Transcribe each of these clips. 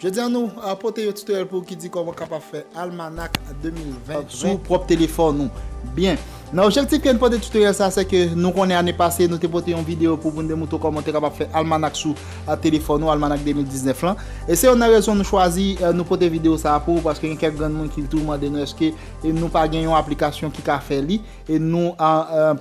Jodi a nou pote yon tutoriel pou ou ki di kòman kapab fè almanak 2020 sou pwòp telefòn ou. Byen, nan objektif ke nou pote tutoriel sa se ke nou konnen ane pase nou te pote yon video pou moun demoutre w kòman ou te kapab fè almanak sou telefòn ou, almanak 2019 lan. E se youn nan rezon nou chwazi nou pote video sa pou ou paske gen kèk granmoun ki toujou mande nou eske nou pa gen yon aplikasyon ki ka fè li e nou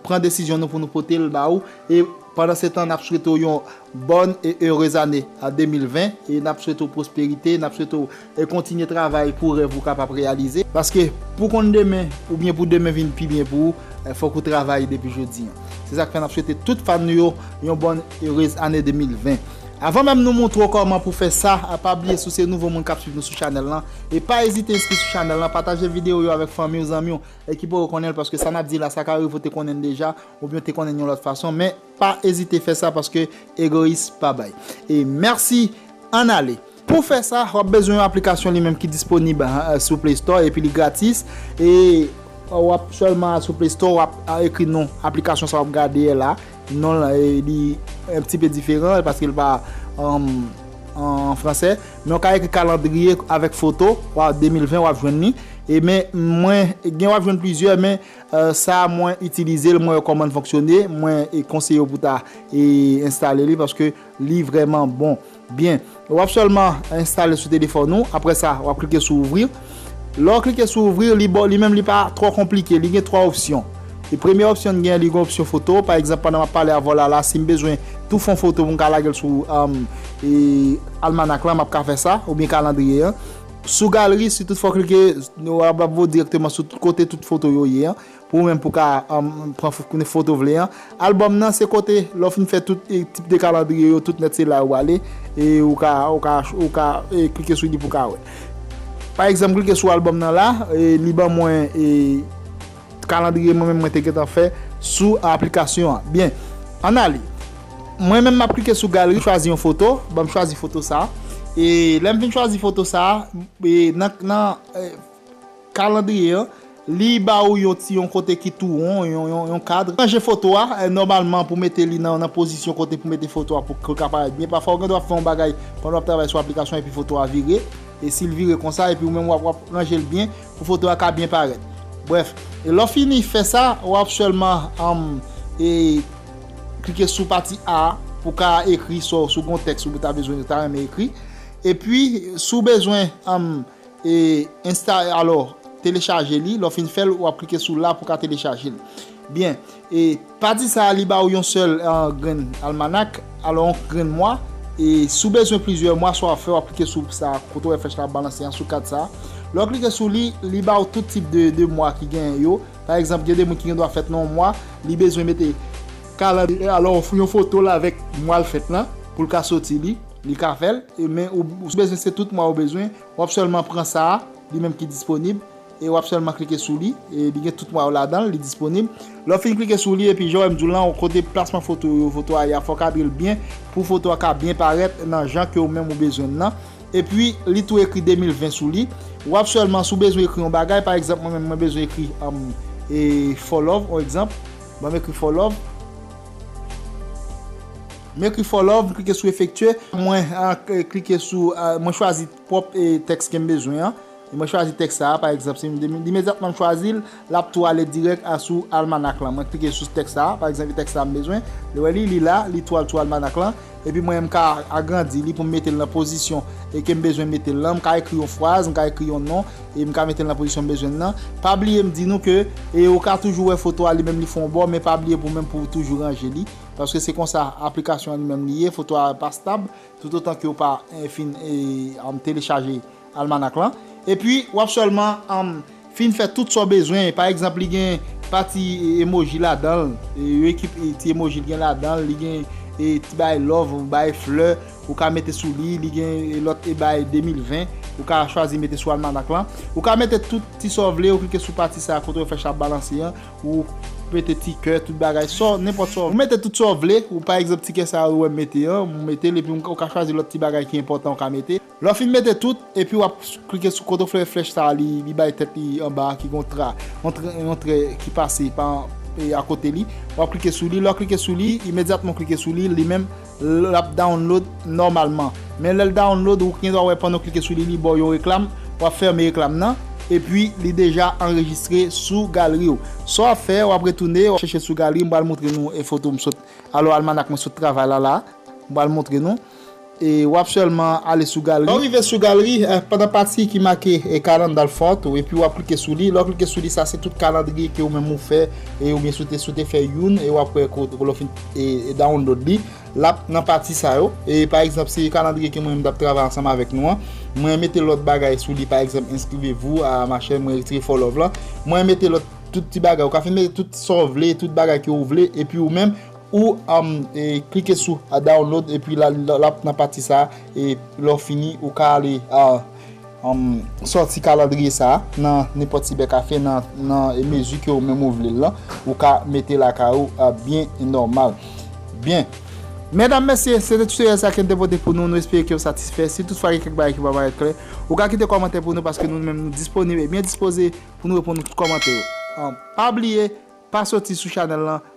pran desizyon nou pou nou pote l ba ou e pandan se tan nap swete w yon Bonne et heureuse année a 2020 e nap swete w pwosperite, nap swete w kontinye travay pou rèv ou kapab reyalize, paske pou konn demen oubyen pou demen vin pi byen pou ou fòk ou travay depi jodi an se sak fè nap swete tout fan nou yo yon bonne heureuse année 2020 avan menm nou montre w kòman pou fè sa pa bliye si w se nouvo moun kap swiv nou sou chanèl lan e pa ezite enskri sou chanèl lan pataje videyo yo avèk fanmi w zanmi w ki poko konnen l paske sa nap di la sa ka rive w te konnen l deja oubyen w te konnen l yon lòt fason men Pa ezite fè sa paske egoyis pa bay. E mèsi Ann ale. Pou fè sa, w ap bezwen yon aplikasyon li menm ki disponib sou Play Store epi li gratis. E w ap sèlman al sou Play Store, w ap ekri non aplikasyon sa w ap gade a la. Non l li yon ti pe diferan paske l pa an fransè. Men w ka ekri kalandriye avèk foto, 2020 w ap jwenn li. E men mwen gen w ap jwenn plizyè men Sa mwen itilize l mwen wè kòman l fonksyone mwen konseyew pou ta enstale li paske li vrèman bon byen wap sèlman enstale sou telefòn ou aprè sa wap klike sou ouvri lè w klike sou ouvri li baw li menm li pa twò konplike li gen 3 opsyon e premye opsyon li gen li gen opsyon foto pa egzanp pandan map pale avèw lala sim bezwen tou fon foto pou m ka lagel sou almanak lan map ka fè sa oubyen kalandriye an. Sou galri, si tout fwa w klike, nou ap ap voye w dirèkteman sou kote tout foto yo ye an, pou ou menm pou w ka pran foto w vle an. Albòm nan, se kote, lè w fin fè tout tip de kalandriye yo tout nèt se la yo prale, e ou ka, ou ka, ou ka klike sou li pou w ka wè. Pa egzanp klike sou albòm nan la, li ban mwen. Kalandriye mwen menm mwen te gentan fè sou aplikasyon an. Byen, ann ale. Mwen menm map klike sou galri, chwazi yon foto, banm chwazi foto sa. E lèm fin chwazi foto sa, e nan nan kalandriye an, li ba ou yon ti yon kote ki tou won, yon kadr. Ranje foto a, nòmalman pou mete li nan pozisyon kote pou mete foto a pou li ka parèt byen. Pafwa ou gen dwa ap fè yon bagay pandan wap travay sou aplikasyon epi foto a vire. E sil vire konsa epi ou menm wap ranje l byen. Pou foto a ka byen parèt. Brèf, lè w fini fè sa, w ap sèlman klike sou pati A a pou w ka ekri sa w, si w gen yon tèks ou ta bezwen, ou ta renmen ekri. Epi, si w bezwen enstale, alò telechaje li, lè w fin fè l, w ap klike sou la pou w ka telechaje l. Byen. E pati sa a li ba ou yon sèl grenn almanak, alò yon grenn mwa, e si w bezwen plizyè mwa, sa w ap fè w ap klike sou sa a kote w wè flèch la ap balanse an, sou kat sa a. Lè w klike sou li, li ba ou tout tip de mwa ki genyen yo. Pa egzanp, gen de moun ki gen dwa fèt nan yon mwa, li bezwen mete kalandriye, alò yon foto l avèk mwa l fèt lan pou l ka soti li, li ka fè l. Men ou bezwen se tout mwa ou bezwen, w ap sèlman pran sa a, li menm ki disponib. E wap sèlman klike sou li, e li gen tout mwa yo ladanl, li disponib. Lè w fin klike sou li epi jan wè m di w lan, kote plasman foto yo, foto a ye a, fò w kadre l byen pou foto a ka byen parèt nan jan ke ou menm ou bezwen l lan. Epi li tou ekri 2020 sou li. Wap sèlman si w bezwen ekri yon bagay, pa egzanp mwen menm mwen bezwen ekri e for love on egzanp, banm ekri for love. M ekri for love, m klike sou efektye, mwen klike sou, mwen chwazi pwòp tèks ke m bezwen an. E mwen chwazi tèks sa a, pa egzanp, si m imedyatman m chwazi l, l ap tou ale dirèk a sou almanak lan. Mwen klike sou tèks sa a, pa egzanp, e tèks sa a m bezwen, li wè li, li la, li tou al sou almanak lan, epi mwen menm m ka agrandi li pou m mete l nan pozisyon e ke m bezwen mete l lan, m ka ekri yon fraz, m ka ekri yon non, e m ka mete l nan pozisyon m bezwen l lan. Pa bliye m di nou ke e ou ka toujou wè foto a li menm li fè yon bò, men pa bliye pou menm pou ou toujou ranje li, paske se konsa aplikasyon an li menm li ye, foto a pa stab, toutotan ke ou pa fin e telechaje. Almanak lan. Epi wap sèlman fin fè tout sa w bezwen. Pa egzanp li gen pati emoji ladan l. Yon ekip ti emoji li gen ladan l. Li gen ti bagay love, bagay flè ou ka mete sou li. Li gen lòt bagay 2020 ou ka chwazi mete sou almanak lan. Ou ka mete tout ti sa w vle. Ou klike sou pati sa kote yo fè chat balanse an. Ou mete ti kè, tout bagay. Sa w, nenpòt sa w vle. Ou mete tout sa w vle. Ou pa egzanp ti kè sa a ou wè m mete an. Ou mete l epi ou ka chwazi lòt ti bagay ki enpòtan ou ka mete. Lè w fin mete tout, epi w ap klike sou kote w vle flèch sa a li bay tèt li anba a ki gen yon tra, yon trè ki pase pa akote li, w ap klike sou li, lè w klike sou li, imedyatman w klike sou li, li menm l ap download nòmalman. Men lè l download ou gendwa wè pandan w klike sou li li ba w yon reklam, w ap fèmen reklam nan, epi li deja anrejistre sou galri w. Sa w ap fè, w ap retounen, w ap chèche sou galri, m pral montre nou foto m sot, alò almanak mwen sot travay la la a, m pral montre nou. e wap sèlman ale sou galri. Lè w rive sou galri, pandan pati ki make Calendar Fort ou epi wap klike sou li, lè w klike sou li sa se tout kalandriye ke ou menm ou fè e oubyen si w te fè youn e wap wè ke lè w fin download li lap nan pati sa yo e pa egzanp se kalandriye ke mwen menm tap travay ansanm avèk nou an mwen mete lòt bagay sou li pa egzanp inscrivez vous a ma chaîne mwen retire follow lan mwen mete lòt tout ti bagay ou ka fin mete tout sa w vle tout bagay ke ou vle epi ou menm Ou klike sou download epi lap nan pati sa e lè w fini ou ka ale sòti kalandriye sa nan nenpòt sibèkafe nan mezi ke ou menm ou vle l lan ou ka mete lakay ou byen nòmal. Byen Medam mesye se te tutorial sa kem te pote pou nou nou espere ke ou satisfè si tout fwa gen kèk bagay ki pa parèt klè ou ka kite kòmantè pou nou paske nou menm nou disponib e byen dispoze pou nou reponn tout kòmantè yo pa bliye pa sòti sou chanèl lan